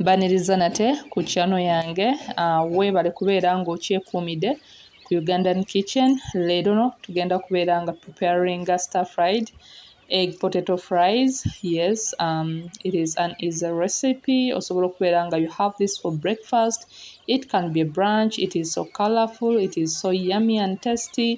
mbaniriza nate ku kyano yange ah, weebale kubeera ng'okyekuumidde ku ugandan kitchen leero no tugenda kubeera nga preparinga star fried egg potato fries yes um, it is an is a recipe osobola okubeera nga you have this for breakfast it can be a branch it is so colorful it is so yummy and tasty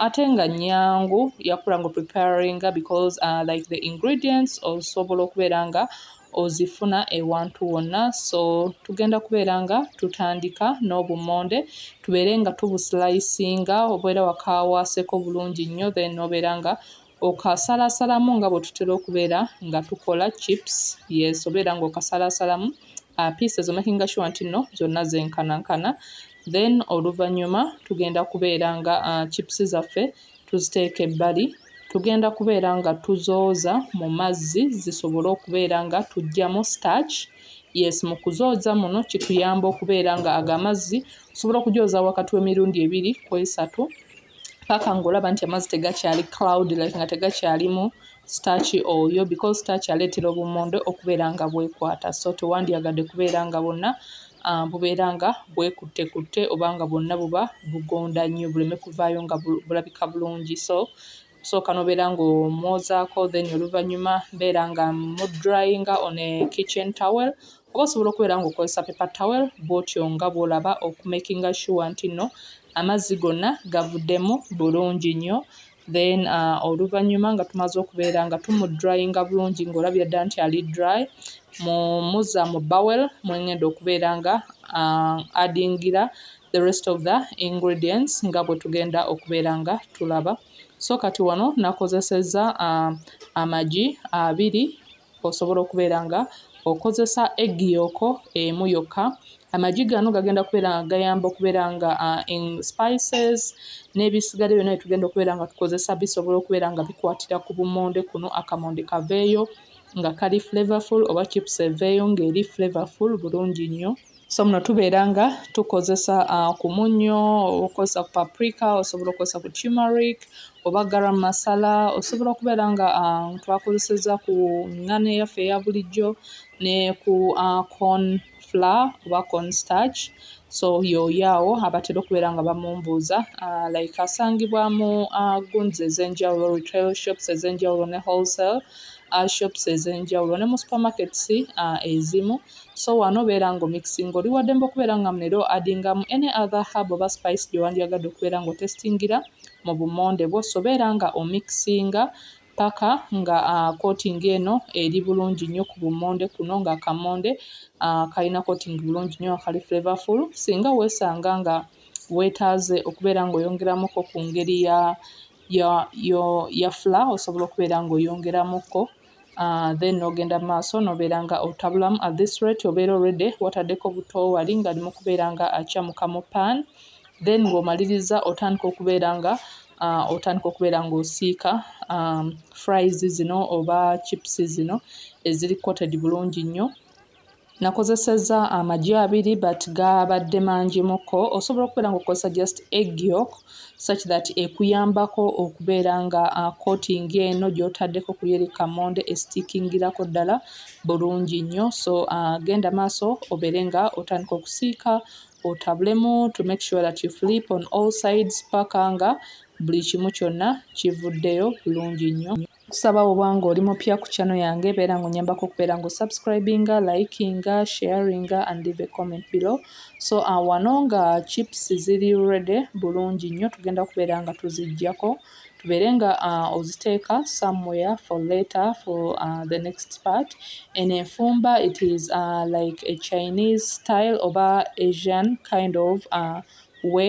ate nga nyangu yakula nga preparinga because uh, like the ingredients osobola okubeera nga uh, ozifuna ewantu wonna so tugenda kubeera nga tutandika n'obummonde tubeere nga tubusilayisinga obeera wakawaaseeko bulungi nnyo then obeera nga okasalaasalamu nga bwe tutera okubeera nga tukola chips yes obeera nga okasalaasalamu uh, pieces omakinga sure nti nno zonna zenkanankana then oluvannyuma tugenda kubeera nga uh, chips zaffe tuziteeka ebbali tugenda kubeera nga tuzooza mu mazzi zisobole okubeera nga tujjamu starch yes mu kuzooza muno kituyamba okubeera nga ago amazzi osobola okujooza wakati w'emirundi ebiri ku esatu paka ng'olaba nti amazzi tegakyali cloud like nga tegakyalimu starch oyo because starch aleetera obumonde okubeera nga bwekwata so tewandyagadde kubeera nga bonna bubeera nga bwekuttekutte oba nga bwonna buba bugonda nnyo buleme kuvaayo nga bulabika bulungi so osooka n'obeera ng'omwozaako then oluvannyuma mbeera nga mmudurayinga on a kitchen towel oba osobola okubeera ng'okozesa paper towel bw'otyo nga bw'olaba okumakinga sure nti nno amazzi gonna gavuddemu bulungi nnyo. then uh, oluvannyuma nga tumaze okubeera nga tumudrayinga bulungi ng'olabira ddala nti ali dry mumuza mu bowel mwengenda okubeera nga uh, adingira the rest of the ingredients nga bwe tugenda okubeera nga tulaba so kati wano nakozeseza uh, amagi abiri Osobola okubeera nga okozesa eggi yoko emu yokka. Amagi gano gagenda kubeera nga gayamba okubeera nga in spices n'ebisigadde byonna bye tugenda okubeera nga tukozesa bisobola okubeera nga bikwatira ku bummonde kuno, akamonde kaveeyo nga kali flavorful oba chips eveeyo ng'eri flavorful bulungi nnyo. so muno tubeera nga tukozesa uh, ku munnyo oba okukozesa ku paprika osobola okukozesa ku tumeric oba garam masala osobola okubeera nga uh, twakozeseza ku ngano eyaffe eya bulijjo ne ku uh, corn flour oba corn starch so yoyaawo abatera okubeera nga bamumbuuza uh, like asangibwa mu uh, guns ez'enjawulo retail shops ez'enjawulo ne wholesale uh, shops ez'enjawulo ne mu supermarkets uh, ezimu So wano beera nga omixinga. Oli wadembe okubeera nga munera o addingamu any other herb oba spice gyewandyagadde okubeera nga otestingira mu bumonde bwo. So beera nga omixinga paka nga uh, coating eno eri bulungi nnyo ku bumonde kuno nga akamonde uh, kalina coating bulungi nnyo akali flavorful. Singa wesanga nga wetaaze okubeera nga oyongeramuko ku ngeri ya ya, ya, ya fla osobola okubeera nga oyongeramuko. uh, then nogenda maaso nobeera nga otabulamu at this rate obeera already watadeko buto wali nga limu kubeera nga akyamuka mu pan then ng'omaliriza otandika okubeera nga uh, otandika okubeera ng'osiika um, fries zino oba chips zino eziri coated bulungi nnyo nakozesezza amagi abiri but gabadde mangimuko osobola okubeera nga okozesa just egg yok such that ekuyambako okubeera nga uh, coating eno gyotaddeko kuyeri kamonde estikingirako ddala bulungi nnyo so uh, genda maaso obeere nga otandika okusiika otabulemu to make sure that you flip on all sides paka nga buli kimu kyonna kivuddeyo bulungi nnyo kusaba oba nga oli mupya ku channel yange beera nga onyambako okubeera nga osubscribinga likinga sharinga and leave a comment below so uh, wano nga chips ziri ready bulungi nnyo tugenda kubeera nga tuzijjako tubeere nga uh, oziteeka somewhere for later for uh, the next part en enfumba it is uh, like a chinese style oba asian kind of uh, we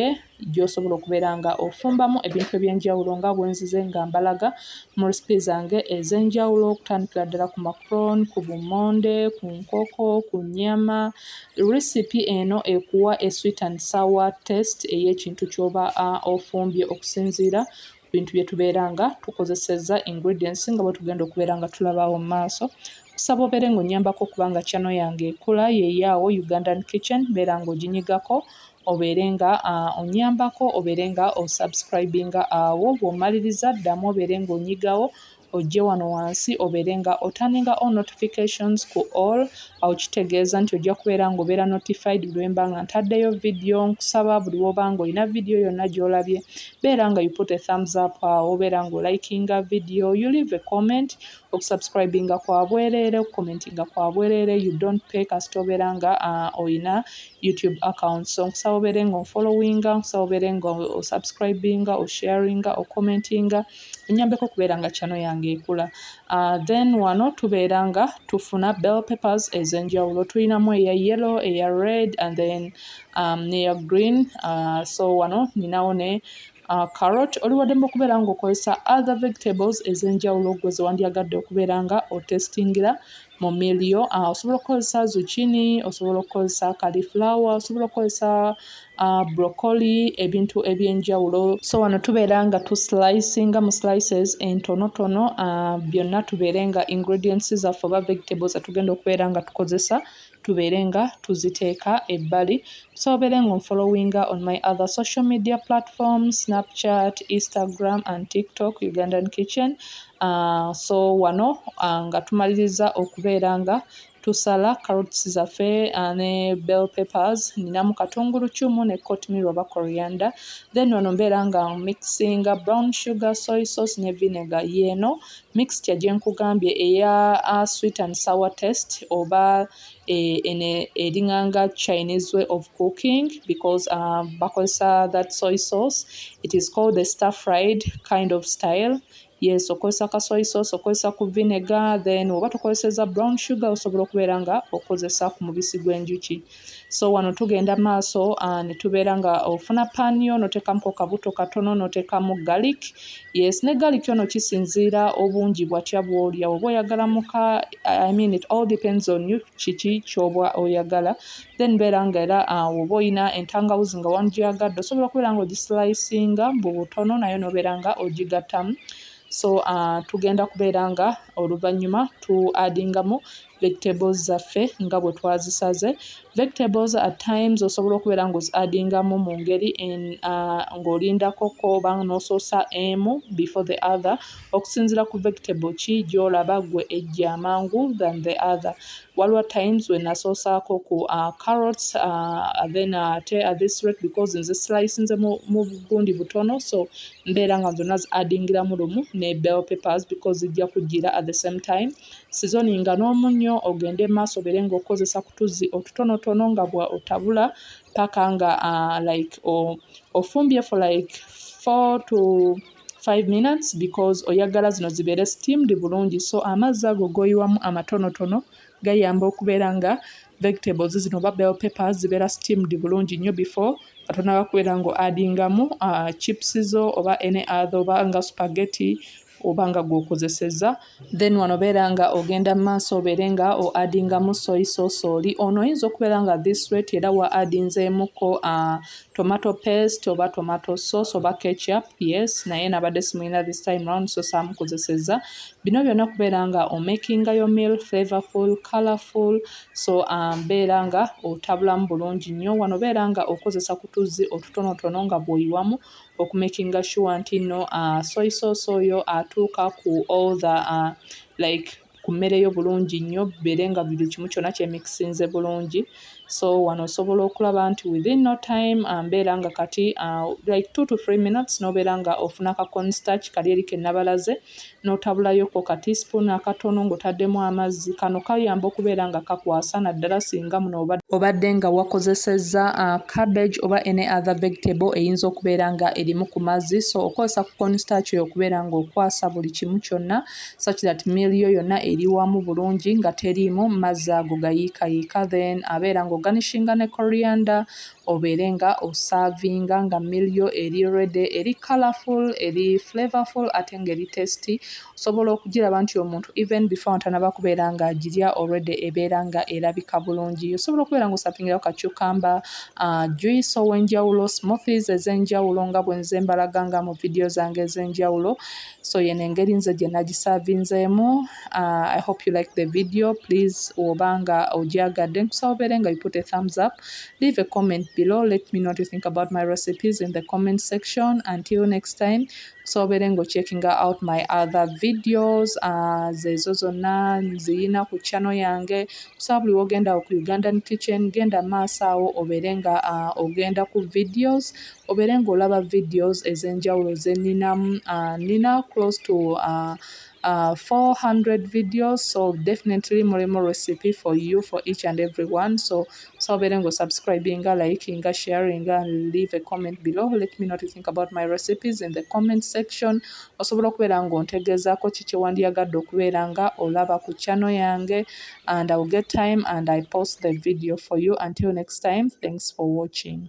gy'osobola okubeera nga ofumbamu ebintu eby'enjawulo nga bwe nzize nga mbalaga mu recipe zange ez'enjawulo okutandikira ddala ku macron, ku bummonde, ku nkoko, ku nnyama. Recipe eno ekuwa a sweet and sour taste ey'ekintu ky'oba ofumbye okusinziira bintu bye tubeera nga tukozesezza ingredients nga bwe tugenda okubeera nga tulabaawo mu maaso kusaba obeere ng'onnyambako okubanga kyano yange ekula yeeyaawo ugandan kitchen beera ng'oginyigako obeere nga ah, onnyambako obeere nga osubscribinga awo bw'omaliriza ddamu obeere ng'onyigawo ojje wano wansi obeere nga otaninga all notifications ku all awo kitegeeza nti ojja kubeera nga obeera notified buli wemba nga ntaddeyo vidiyo nkusaba buli woba nga olina vidiyo yonna gyolabye beera nga you put a thumbs up awo obeera nga olikinga vidiyo you leave a comment okusubscribinga kwa bwereere okucommentinga kwa bwereere you don't pay kasita obeera nga uh, olina youtube account so nkusaba obeere nga onfollowinga nkusaba obeere nga osubscribinga osharinga ocommentinga, o enyambeko okubeera nga channel yange ekula uh, then wano tubeera nga tufuna bell papers ezenjawulo tulinamu eya yellow eya red and then um, neya green uh, so wano ninawo ne uh, carrot oliwaddemu okubeera nga okozesa other vegetables ezenjawulo gwe zewandyagadde okubeera nga otestingira mu milio uh, ah, osobola okukozesa zucchini osobola okukozesa califlower osobola okukozesa uh, broccoli ebintu ebyenjawulo so wano tubeera nga tu slicinga mu slices entonotono uh, byonna tubeere nga ingredients zaffe oba vegetables atugenda okubeera nga tukozesa tubeere nga tuziteeka ebbali tusobere nga onfollowinga on my other social media platform snapchat instagram and tiktok ugandan kitchen So wano nga tumalirizza okubeera nga tusala carrots zaffe ne bell peppers, nninamu katunguluccumu ne cotmil oba coriander, then wano mbeera nga mixinga brown sugar, soy sauce ne vinegar, y'eno mixture gye nkugambye eya sweet and sour taste oba eno ering'anga Chinese way of cooking because bakozesa that soy sauce, it is called the star fried kind of style. Yes okozesa ka soy sauce okozesa ku vinegar then oba tukozeseza brown sugar osobola okubeera nga okozesa ku mubisi gw'enjuki so wano tugenda maaso ah, ne tubeera nga ofuna pan yo notekamu ko kabuto katono notekamu garlic yes ne garlic ono kisinziira obungi bwatya bwolya oba oyagala muka i mean it all depends on you kiki kyoba oyagala then beera nga era ah, oba olina entangawuzi nga wandyagadde osobola okubeera nga ogislicinga mbu butono naye nobeera nga ogigattamu so uh, tugenda kubeera nga oluvannyuma tu adingamu vegetables zaffe nga bwe twazisaze vegetables at times osobola okubeera nga ozi adingamu mu ngeri uh, ng'olindako ko oba n'osoosa emu before the other okusinziira ku vegetable ki gy'olaba gwe ejja amangu than the other waliwo times we nasoosaako ku uh, carrots uh, then uh, ate uh, this rate because nze slicinze mu, mu bugundi butono so mbeera nga zonna ziaddingiramu lumu ne bell papers because zijja kujjira at the same time sizoni nga n'omunnyo ogende maaso obeere ngaokukozesa kutuzzi otutonotono nga bwa otabula paka nga uh, like ofumbye for like four to 5 minutes because oyagala zino zibeere steamed bulungi so amazzi ago goyiwamu amatonotono gayamba okubeera nga vegetables zino oba bell paper zibeera steamed bulungi nnyo before atonaba kubeera nga adingamu uh, chips zo oba any other oba nga spaghetti oba nga gwokozeseza uh, then wano beera nga ogenda mu maaso obeere nga o adingamu soyi sosooli ono oyinza okubeera nga this rate era wa adinzeemukko uh, tomato paste oba tomato sauce oba ketchup yes naye nabadde simulina this time round so saamukozeseza bino byonna kubeera nga omakinga yo meal flavorful colorful so um, beera nga otabulamu bulungi nnyo wano beera nga okozesa kutuzzi otutonotono nga bwoyiwamu oku makinga sure nti no uh, soy sauce oyo atuuka uh, ku all the uh, like ku mmere yo bulungi nnyo bibeere nga buli kimu kyonna kyemikisinze bulungi so wano osobola okulaba nti within no time uh, mbeera nga kati uh, like two to three minutes nobeera nga ofuna ka constarch kali eri kenabalaze n'otabulayo ko ka teaspoon akatono ng'otaddemu amazzi. Kano kayamba okubeera nga kakwasa naddala singa muno obadde obadde nga wakozesezza uh, cabbage oba any other vegetable eyinza okubeera nga erimu ku mazzi so okozesa ku constarch oyo okubeera nga okwasa buli kimu kyonna such that meal yo yonna eri wamu bulungi nga teriimu mazzi ago gayiikayiika then abeera nga oganishinga ne coriander obeere nga osaavinga nga meal yo eri ready eri colourful eri flavorful ate nga eri tasty osobola okugiraba nti omuntu even before nga tanaba kubeera nga agirya already ebeera nga erabika bulungi osobola okubeera nga osavingirako ka cucumber uh, juice ow'enjawulo smoothies ez'enjawulo nga bwenze mbalaga nga mu vidiyo zange ez'enjawulo so yeno engeri nze gye nagisavinzeemu uh, i hope you like the video please oba nga ogyagadde nkusaba obeere nga you put a thumbs up leave a comment below let me know what you think about my recipes in the comment section until next time nkusaba obeere nga ocheckinga out my other videos uh, zezo zonna nziyina ku channel yange nkusaba buli wogenda ku ugandan kitchen genda maaso awo obeere nga uh, ogenda ku videos obeere ng'olaba videos ez'enjawulo ze nninamu uh, nnina close to uh, uh, 400 videos so definitely mulimu recipe for you for each and every one so so obeere ng'osubscribinga likinga sharinga and leave a comment below let me know to think about my recipes in the comment section osobola okubeera ng'ontegeezaako ki kyewandiyagadde okubeera nga olaba ku channel yange and iwill get time and i post the video for you until next time thanks for watching